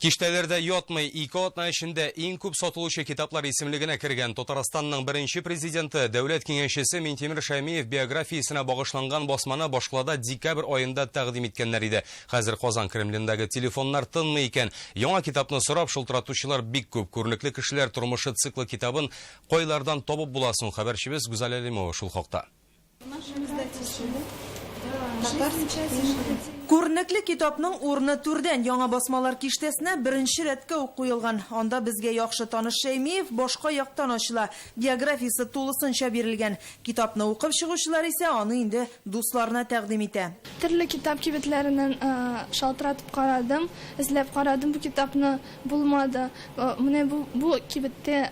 Киштәләрдә ятмый, ике атна эчендә иң күп сатылучы китаплар исемлегенә кергән Татарстанның беренче президенты, дәүләт киңәшчесе Минтимер Шәймиев биографиясенә багышланган басманы башкалада декабрь аенда тәкъдим иткәннәр иде. Хәзер Казан Кремлендагы телефоннар тынмый икән. Яңа китапны сорап шылтыратучылар бик күп. Күренекле кешеләр тормышы циклы китабын кайлардан табып була соң? Хәбәрчебез Гүзәл Әлимова шул хакта. Күренекле китапның урыны түрдән, яңа басмалар киштәсенә беренче рәткә үк куелган. Анда безгә яхшы таныш Шәймиев башка яктан ачыла, биографиясе тулысынча бирелгән. Китапны укып чыгучылар исә аны инде дусларына тәкъдим итә. Төрле китап кибетләреннән шалтыратып карадым, эзләп карадым, бу китапны булмады. Менә бу кибеттә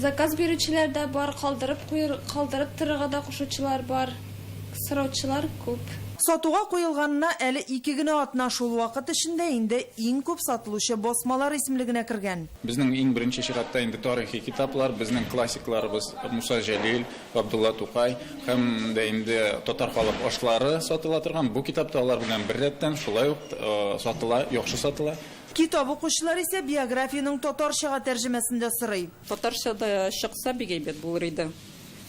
Заказ бирүчеләр дә бар, калдырып куер, калдырып торырга да кушучылар бар. Сораучылар күп. Сатуга куелганына әле ике генә атна, шул вакыт эчендә инде иң күп сатылучы басмалар исемлегенә кергән. Безнең иң беренче чиратта инде тарихи китаплар, безнең классикларыбыз Муса Җәлил, Габдулла Тукай һәм дә инде татар халык ашлары сатыла торган бу китап та алар белән беррәттән шулай ук сатыла, яхшы сатыла. Китап укучылар исә биографиянең татарчага тәрҗемәсен дә сорый. Татарча да чыкса бик әйбәт булыр иде.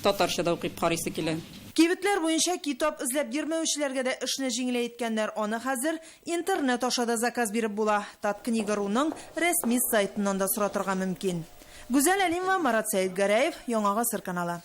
Татарча да укып карыйсы килә. Кибетләр буенча китап эзләп йөрмәүчеләргә дә эшне җиңеләеткәннәр, аны хәзер интернет аша да заказ биреп була, Таткнига.руның рәсми сайтыннан да соратырга мөмкин. Гүзәл Әлимова, Марат Сәетгәрәев, Яңа гасыр каналы.